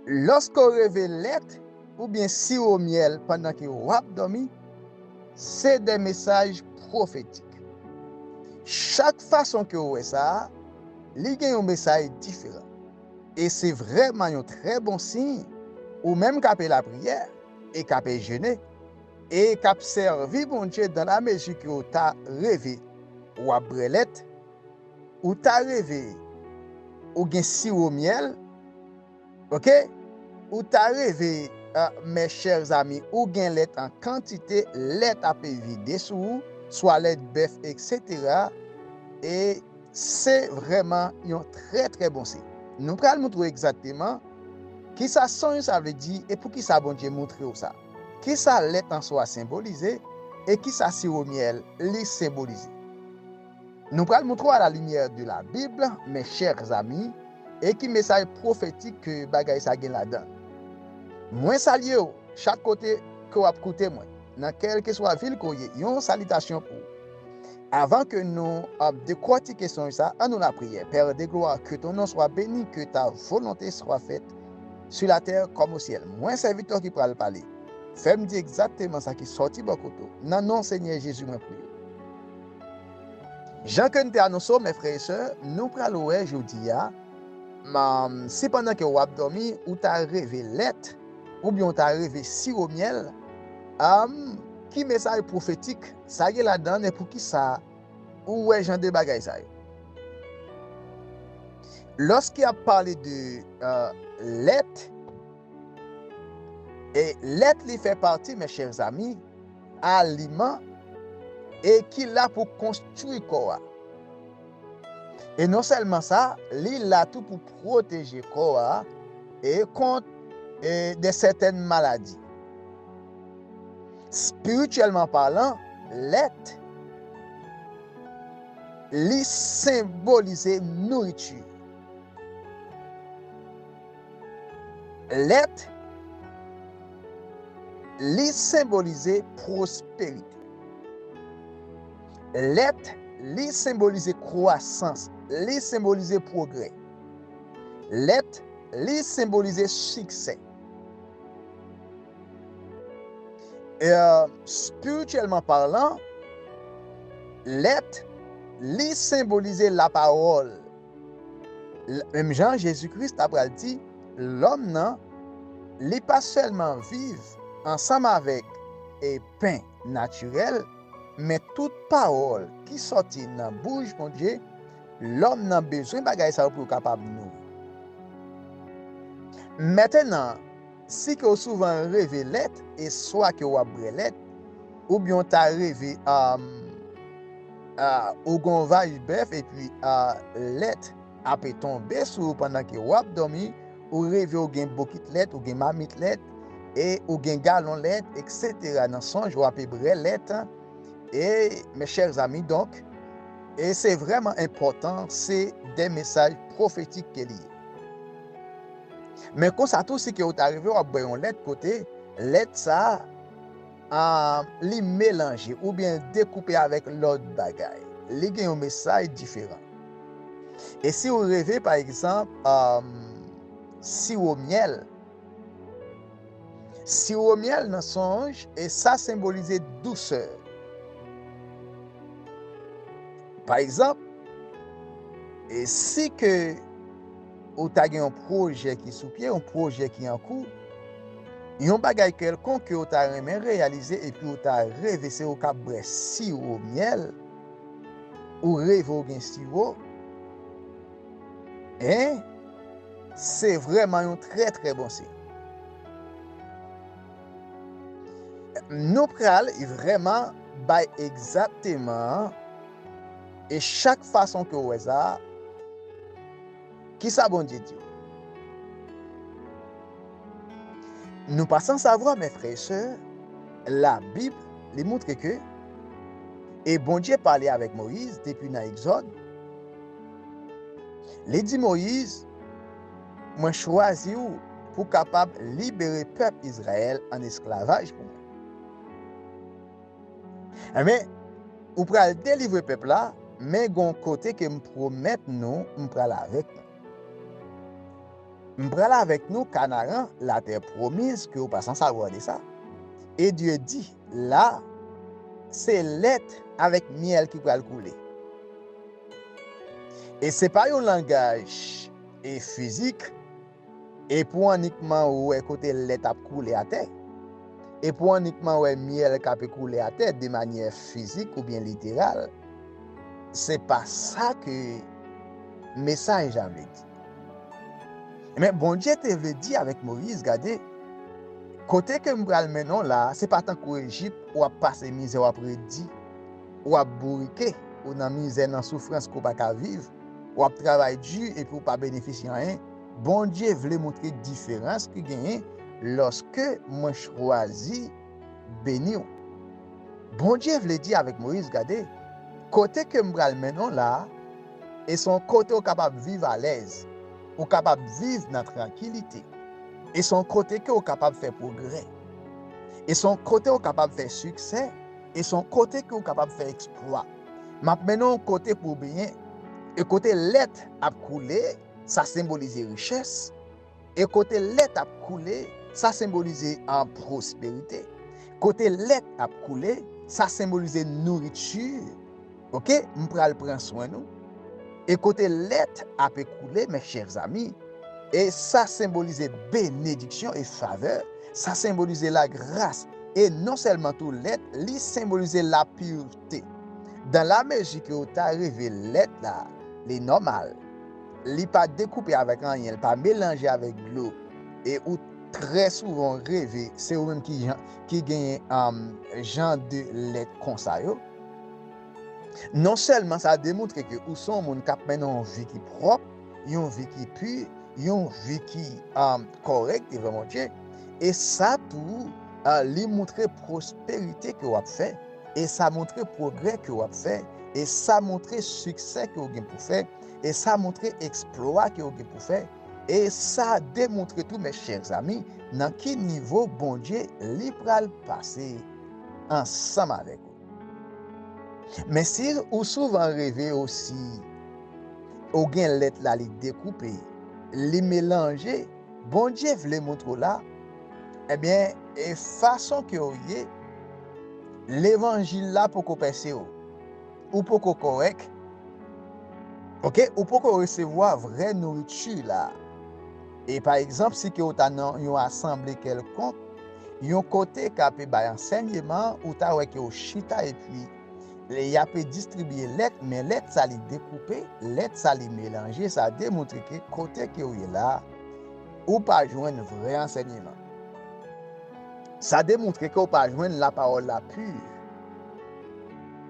Lòske w reve lèt oubyen siwo myèl pandan ke w ap dòmi, se de mesaj pwofetik. Chak fason ke w wè sa, li gen yon mesaj diferan. E se vrèman yon trè bon siy, ou menm k ape lapriyè, e k ape jene, e k ap sèvi Bondye dan lamezi ke w ta reve w ap bre lèt, Ou ta reve ou gen siro myèl ok ou ta reve mes chers amis ou gen lèt an kantite lèt ape vide sou ou swa lèt bèf etc e se vrèman yon trè trè bon siy nou pral moutre w egzakteman kisa sony sa vle di e poukisa Bondye moutre w sa kisa lèt an swa senbolize e kisa siro myèl li senbolize. Nou pral moutre w a la limyè de la Bib, mes chers amis, e ki mesaj pwofetik ke bagay sa gen ladan. Mwen salye w chak kote ke w ap koute mwen, nan kèlkeswa vil ke w ye, yon salitasyon pou ou. Avan ke nou ap dekwòtike sonj sa, an nou lapriyè, Père de gloire, ke ton non swa beni, ke ta volonte swa fèt, sou latè kòm osyèl. Mwen sèvitè w ki pral pale, fè m di egzakteman sa ki sòti bò kote w, nan non Senyè Jezi mwen priye w. Jan ke n te anonse w, mè frè e sè, nou pral wè jodi a, si pandan ke w ap dòmi, ou ta reve lèt, oubyen w ta reve siwo myèl, ki mesaj pwofetik sa gen ladan l e poukisa ou wè jan de bagay sa yo. Lòske y ap pale de lèt, e lèt li fè pati, mè chè zami, aliman e ki la pou konstwi kò a. E non sèlman sa, li la tou pou pwoteje kò a e kont e de sètèn maladi. Spirityèlman palan, lèt li senbolize nouriti. Lèt Li senbolize pwosperite. Lèt Li senbolize kwasans. Li senbolize pwogrè. Lèt Li senbolize siksè. Espirityèlman palan, Lèt Li senbolize lapawòl. Menm jan Jezi Kris ta pral di lòm nan, li pa sèlman viv ansanm avèk pen natirèl, men tout pawòl ki sòti nan bouch Bondye, lòm nan bezwen bagay sa yo pou yo kapab nouri. Mètenan. Si ke w souvan reve lèt e swa ke w ap bwè lèt, oubyen w ta reve ou gen yon vaj bèf epi lèt ape tonbe sou ou pandan ke w ap dòmi, ou reve ou gen bokit lèt, ou gen mamit lèt, e ou gen galon lèt, eksetera nan sonj ou ape bwè lèt, e mes chers amis donk, e se vrèman enpòtan, se de mesaj pwofetik ke li ye. Men konsa tou si ke ou ta rive wap bwè yon lèt kote lèt sa a li melanje oubyen l dekoupe avèk lòt bagay li gen yon mesaj diferan e si ou reve pa egzanp siwo myèl siwo myèl nan sonj e sa senbolize dousè pa egzanp e si ke Ou ta gen yon pwojè ki sou pye, yon pwojè ki an kou, yon bagay kèlkonk ke ou ta renmen reyalize epi ou ta reve se ou kap bwè siwo myèl, ou reve ou gen siwo, en, se vrèman yon trè trè bon siy. Nou pral vrèman bay egzakteman e chak fason ke ou wè sa a. Kisa Bondye di w? Nou pa san savwa, men frè e sè, la Bib li moutre ke e Bondye pale avèk Moyiz depi nan Egzòd, li di Moyiz, Mwen chwazi w pou kapab libere pèp Izrayèl an esklavaj pou mwen. Amen ou pral delivre pèp la men gon kote ke m promèt nou m pral avèk nou m pral avèk nou kanaran la tè promiz ke ou pa san savwa de sa e Dye di la se lèt avèk myèl ki pral koule e se pa yon langaj e fizik. E pou w annikman wè kote lèt ap koule atè. E pou w annikman wè myèl k ape koule atè demanyè fizik oubyen literal. Se pa sa ke mesaj la vle di. Ebyen, Bondye te vle di avèk Moyiz, Gade, kote ke m pral mennen w la a, se pa tankou Ejip, w ap pase mizè, w ap redi, w ap bourike, ou nan mizè, nan soufrans ke w pa ka viv. Wap travay du epi ou pa benefisye anyen Bondye vle moutre diferans ki genyen loske mwen chwazi beniw Bondye vle di avek Moïse gade kote kem pral mennen w la e se yon kote ou kapab viv alèz ou kapab viv nan trankilite e se yon kote ke ou kapab fè progrè e se yon kote ou kapab fè siksè e se yon kote ke ou kapab fè eksplwa. M ap mennen w kote pou w benyen, e kote lèt ap koule, sa senbolize richès, e kote lèt ap koule, sa senbolize pwosperite. Kote lèt ap koule, sa senbolize nouriti, ok, m pral pran swen nou. E kote lèt ape koule, mes chers amis, e sa senbolize benediksyon e favè, sa senbolize lagras, e non sèlman tou lèt, li senbolize lapurte. aksepte. Dan la mezi ke ou ta rive lèt la, li nòmal. Li pa dekoupe avèk anyen, li pa melanje avèk dlo. E ou trè souvan reve se ou menm ki jan, ki genyen jan de lèt konsa yo. Non sèlman sa demontre ke ou se yon moun kap mennen yon vi ki pwòp, yon vi ki pu, yon vi ki kòrèk devan Bondye, e sa tou li montre pwosperite ke wap fè. E sa montre pwogrè ke w ap fè, e sa montre siksè ke w gen pou fè, e sa montre eksplwa ke w gen pou fè, e sa demontre tou, mes chers amis, nan ki nivo Bondye li pral pase ansanm avèk ou. Men si ou souvan reve osi, ou gen lèt la li dekoupe, li melanje, Bondye vle moutre w la, ebyen e fason ke w ye, levanjil la poko pèse w, ou poko kòrèk, ok, ou poko resevwa vrè nouriti la. E pa egzanp si ke w ta nan yon asanble kèlkonk, yon kote k'ape bay ansènyeman, ou ta wè ke w chita epi. Lè y ape distribiye lèt men lèt sa li dekoupe, lèt sa li melanje sa demontre ke kote ke ou ye la a ou pa jwenn vrè ansènyeman. Sa demontre ke ou pa jwenn la pawòl la pur.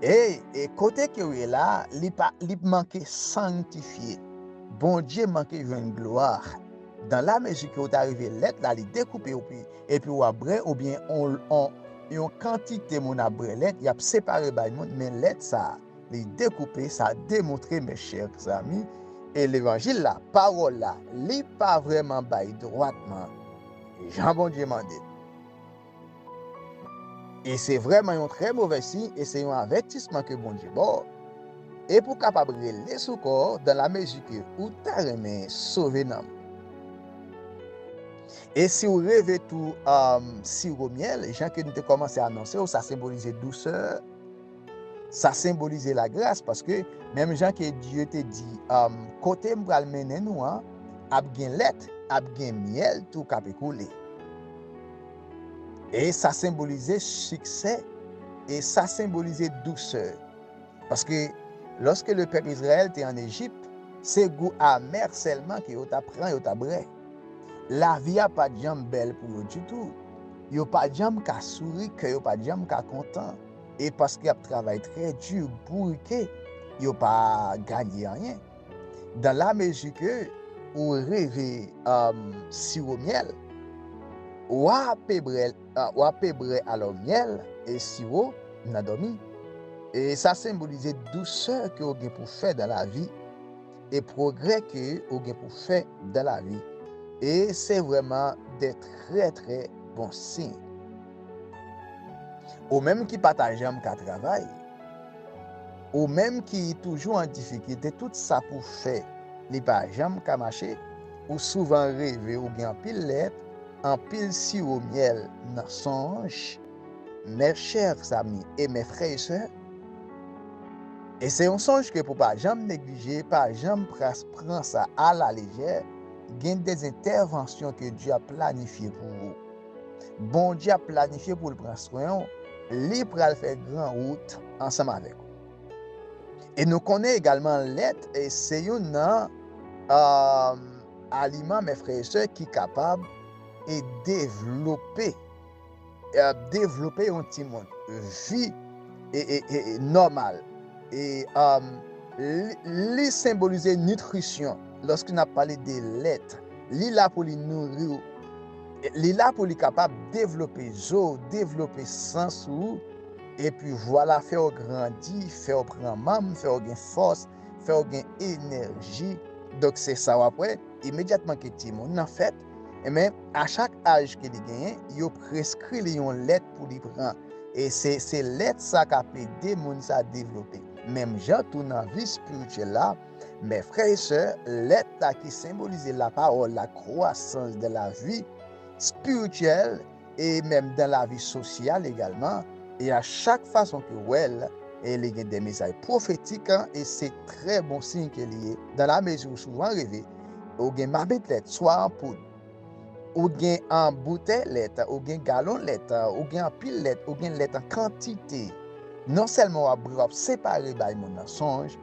E e kote ke ou ye la a li pa li manke sanktifye. Bondye manke jwenn glwa. Dan la mezi ke ou ta rive lèt la li dekoupe opi epi ou ap bre oubyen on on yon kantite moun ap bre lèt y ap separe bay moun men lèt sa li dekoupe sa demontre mes chers amis e levanjil la pawòl la li pa vrèman bay dwatman jan Bondye mande. E se vrèman yon trè movè siy e se yon avètisman ke Bondye ba w, e pou w kapab rele sou kò w dan la mezi ke ou ta renmen sove nanm. E si w reve tou siwo myèl, jan ke nou te kòmanse anonse w, sa senbolize dousè, sa senbolize lagras, paske menm jan ke Dye te di, kote m pral mennen nou an, ap gen lèt, ap gen myèl tou k ape koule. E sa senbolize siksè, e sa senbolize dousè. Paske, lòske le pèp Izrayèl te an Ejip, se gou amè sèlman ke yo ta pran, yo ta brè. Lavi a pa t janm bèl pou yo ditou. Yo pa t janm ka souri, kè yo pa t janm ka kontan. E paske y ap travay trè di, bourike, yo pa ganye anyen. Dan la mezi ke ou reve siwo myèl, wa pe brè alò myèl e siwo nan dòmi. E sa senbolize dousè ke ou gen pou fè dan la vi e pwogrè ke ou gen pou fè dan la vi. E se vrèman de trè trè bon siy. Ou menm ki pa ta janm ka travay. Ou menm ki toujou an difikilte tout sa pou fè li pa janm ka mache, ou souvan reve ou gen anpil lèt, anpil siwo myèl nan sonj, mes chers amis et mes frères et sœurs, e se yon sonj ke pou pa janm neglije, pa janm pras pran sa a la lejè, gen des interventions ke Dieu ap planifye pou ou. Bondye ap planifye pou l pran swen ou, li pral fè gran wout ansanm avèk ou. E nou konnen egalman lèt se youn nan aliman mes frères et sœurs ki kapab e devlope devlope yon timoun vi nòmal e li senbolize nitrisyon lòske n ap pale de lèt li la pou li nouri ou Li la pou li kapab devlope zo w, devlope sans ou, epi vwala fè w grandi, fè w pran manm, fè w gen fòs, fè w gen enèji. Donk se sa w ap wè, imedyatman ke timoun nan fèt, enben a chak aj ke li genyen, yo preskri li yon lèt pou li pran. E se se lèt sa k ap ede moun sa devlope. Menm jan tou nan vi spirityèl la, Men frè e sè, lèt la ki senbolize lapawòl la kwasans dan lavi spirityèl e menm dan lavi sosyal egalman, e a chak fason ke w wè l, e li gen de mesaj pwofetik e se trè bon siy ke li ye, dan lamezi ou souvan reve ou gen mabit lèt swa an poud, Ou gen an boutèy lèt, ou gen galon lèt, ou gen anpil lèt, ou gen lèt an kantite. Non sèlman w ap bri, w ap separe bay moun nan sonj.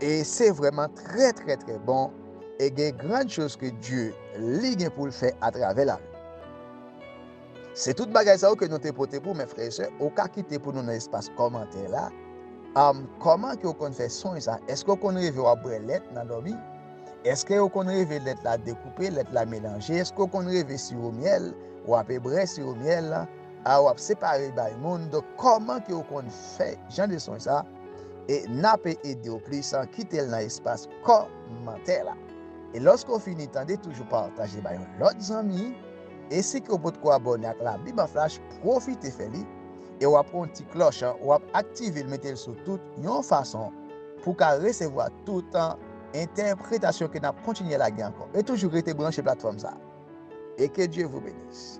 E se vrèman trè trè trè bon e gen grand chose ke Dye li gen pou l fè atravè la. Se tout bagay sa yo ke nou te pote pou, men frè e sè, ou ka kite pou nou nan espas kòmantè la, am, kòman ke ou konn fè sonj sa, eske ou konn reve wap bwè lèt nan dòmi, eske ou konn reve lèt la dekoupe, lèt la melanje, eske ou konn reve siwo myèl, ou ape brè siwo myèl lan, a wap separe bay moun, donk kòman ke ou konn fè jan de sonj sa, e nape ede ou plis an, kitel nan espas kòmantè la. E lòske ou fini tande toujou pataje bay yon lòt zanmi. E si ke ou potko abòne ak la bib an flash pwofite fè li e wap pran ti klòch an wap aktivel metel sou tout yon fason pou ka resevwa tout entèpretasyon ke nap kontinye lage ankò e toujou rete branche platfòm sa e ke Dye vou benis.